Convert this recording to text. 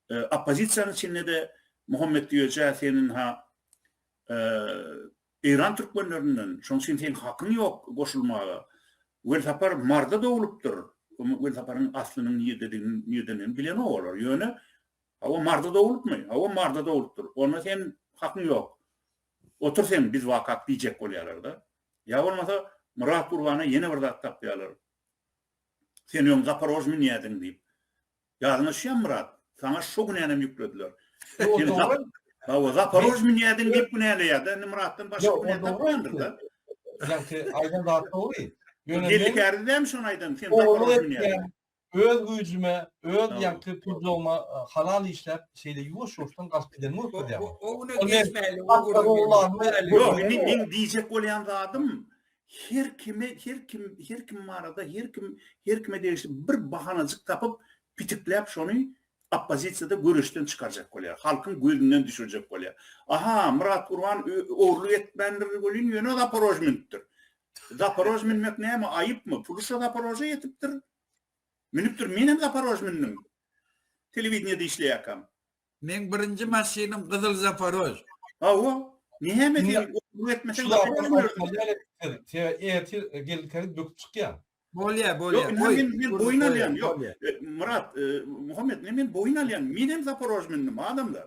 Oppozisiýanyň içinde-de Muhammet Güýeje senin-ha Eýran türkmenlerinden, şonuň üçin seň hakyň ýok goşulmaga. Welsapar Maryda doglupdyr. Welsaparyň aslynyň nirdendigini bilenok olar. Ýöne, hawa Maryda doglupmy? Hawa Maryda doglupdyr. Onda sen hakyň ýok. Otur sen biz wakak diýjek bolýarlar-da. Ýa bolmasa Myrat Gurbana ýene bir zat tapýarlar. Sen öň Zaporožmynýädiň diýip. Ýalňyşýam Myrat. Saňa şo günänem ýüklediler. Sen Zap, hawa Zaporojj münýädiň diýip günäleýärda indi Myratdan başga günä tapmandyr-da. Ýagty aýdan zat dogry. Ýöne Geldi kärde dämi şony aýdan sen Zaporojj münýädiň. Öz güýjüme, öz ýagty pudlagyma halal işläp şeýle ýuwaş-ýuwaşdan galyp gidenim bolupdyr ýa-ha. O güne geçmäýli. Ýok indi meň diýjek bolýan zadym Her kime, her kim, her kim barada, her kim, her kime degişli bir bahanajyk tapyp, pitikläp şony oppozisiýada göreşden çykarjak bolýar. Halkyň gözünden düşürjek bolýar. Aha, Myrat Gurban ogurlyk etmändir welin, ýöne Zaporož münüpdir. Zaporož münmek näme, aýypmy? Pulusha Zaporoža ýetipdir. Münüpdir, menem Zaporož mündüm. Telewideniýede işleýärkäm. Meň birinji maşynym gyzyl zaparož. Hawa. Näme sen okuw etmeseň näme bilersiň? Sebä ertir gelinkäňiz böküp çykýar. Bolýar, bolýar. Ýok, indi men men boýun alýan. Ýok, Myrat, Muhammet, indi men boýun alýan. Menem zaparož mündim, adamlar.